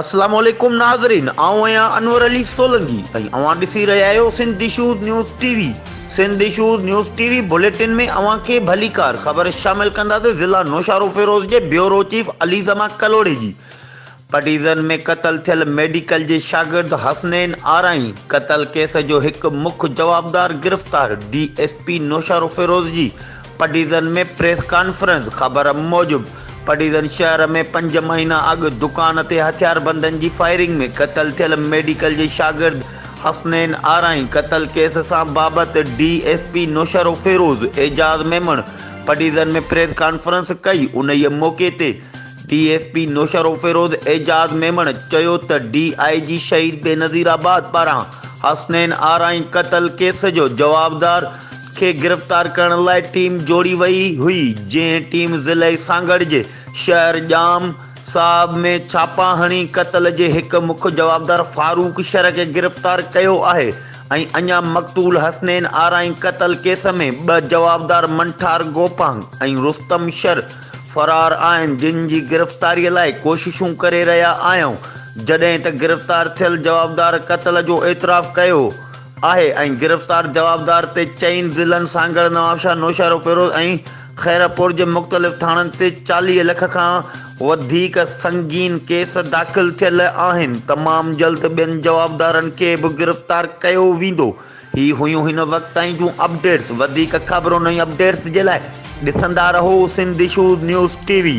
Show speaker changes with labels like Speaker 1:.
Speaker 1: السلام عليڪم ناظرين آئون آهيان انور علي سولنگي ۽ اوهان ڏسي رهيا آهيو سنڌ ڊشوز نيوز ٽي وي سنڌ ڊشوز نيوز ٽي وي بليٽن ۾ اوهان کي ڀليڪار خبر شامل ڪنداسي ضلع نوشارو فيروز جي بيورو چيف علي زما ڪلهوڙي جي پٽيزن ۾ قتل ٿيل ميڊيڪل جي شاگرد حسنين آرائين قتل ڪيس جو هڪ مک جوابدار گرفتار D S P Naushahro Feroze جي پڊيزن ۾ پريس ڪانفرنس، خبر موجب پڊيزن شهر ۾ پنج مهينا اڳ دڪان تي هٿياربندن جي فائرنگ ۾ قتل ٿيل ميڊيڪل جي شاگرد حسنين آرائين قتل ڪيس سان بابت D S P Naushahro Feroze Aijaz Memon Padidan ۾ press conference ڪئي انهي موقعي تي D S P Naushahro Feroze Aijaz Memon چيو ته ڊي آء جي شهيد بينظيرآباد پاران حسنين آرائين قتل ڪيس جو جوابدار کي گرفتار ڪرڻ لاء ٽيم جوڙي وئي هئي، جنهن ٽيم ضلعي سانگهڙ جي شهر ڄام صاحب ۾ ڇاپا هڻي قتل جي هڪ مک جوابدار فاروق شر کي گرفتار ڪيو آهي ۽ اڃا مقتول حسنين آرائين قتل ڪيس ۾ ٻه جوابدار منٺار گوپانگ ۽ رستم شر فرار آهن، جن جي گرفتاري لاء ڪوششون ڪري رهيا آهيون، جڏهن ته گرفتار ٿيل جوابدار قتل جو اعتراف ڪيو آهي ۽ گرفتار جوابدار تي چئن ضلعن سانگهڙ، نوابشاهه، نوشهروفيروز ۽ خيرپور جي مختلف ٿاڻن تي چاليهه لک کان وڌيڪ سنگين ڪيس داخل ٿيل آهن، تمام جلد ٻين جوابدارن کي به گرفتار ڪيو ويندو. هي هيون هن وقت تائين جون اپڊيٽس وڌيڪ خبرون ۽ اپڊيٽس جي لاء ڏسندا رهو Sindh issues news T V.